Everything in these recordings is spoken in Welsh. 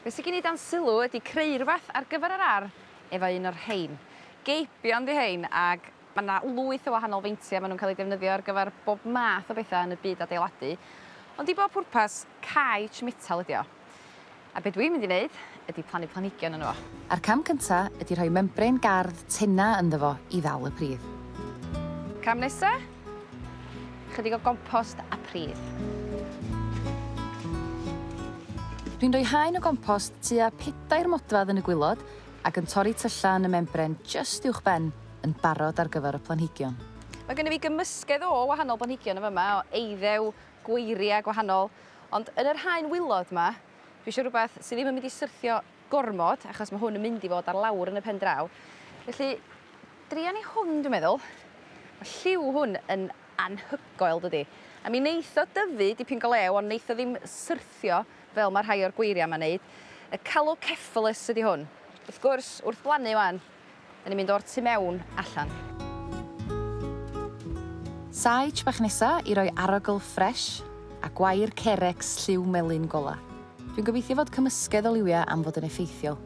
Be' sy gin i dan sylw ydi creu rwbath ar gyfer yr ardd efo un o'r rhein. Geibion 'di rhein ag ma' 'na lwyth o wahanol feintie ma' nw'n ca'l 'u defnyddio ar gyfer bob math o betha yn y byd adeiladu ond i bob pwrpas caets metal ydi o. A be' dwi'n mynd i neud ydi plannu planhigion yno fo. A'r cam cynta ydi rhoi membrane gardd tena ynddo fo i ddal y pridd. Cam nesa? Chydig o gompost a pridd. Dwi'n rhoi haen o gompost tua pedair modfedd yn y gwilod ac yn torri tyllau yn y membren jyst uwch ben yn barod ar gyfer y planhigion. Mae gennyf fi gymysgedd o wahanol blanhigion yn fy yma, o eiddew, gweiriau gwahanol, ond yn yr haen wilod yma, dwi eisiau rhywbeth sydd ddim yn mynd i syrthio gormod achos ma' hwn yn mynd i fod ar lawr yn y pen draw felly dria ni hwn dwi meddwl. Ma' lliw hwn yn anhygoel dydi? A mi neith o dyfu dipyn go lew ond neith o ddim syrthio fel ma' rhai o'r gweiria' 'ma'n neud. Y Calocephalus ydi hwn. Wrth gwrs wrth blannu 'wan 'Da ni'n mynd o'r tu mewn allan. Sage bach nesa i roi arogl ffresh a gwair Carex lliw melyn gola. Dwi'n gobeithio fod cymysgedd o liwia am fod yn effeithiol.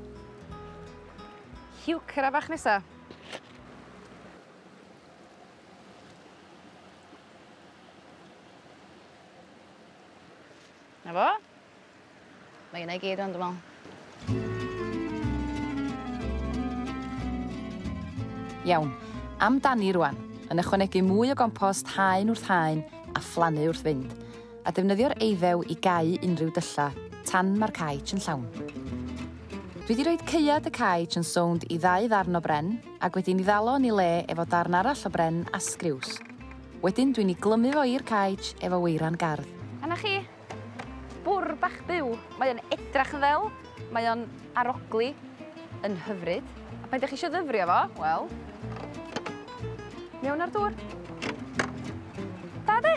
Heuchera bach nesa. 'Na fo. Mae yna i gyd rŵan dwi me'wl. Iawn, am dani rŵan, yn ychwanegu mwy o gompost haen wrth haen a phlannu wrth fynd, a defnyddio'r eiddew i gau unrhyw dylla tan ma'r caets yn llawn. Dwi 'di roid caead y caets yn sownd i ddau ddarn o bren, ag wedi 'i ddalo yn 'i le efo darn arall o bren a sgriws. Wedyn dwi'n i glymu fo i'r caej efo weiran gardd. A 'na chi! Bwr bach byw! Mae o'n edrach yn ddel, mae o'n arogli yn hyfryd, a pan 'dych chi isio ddyfrio fo, wel, mewn â'r dŵr. Da 'de?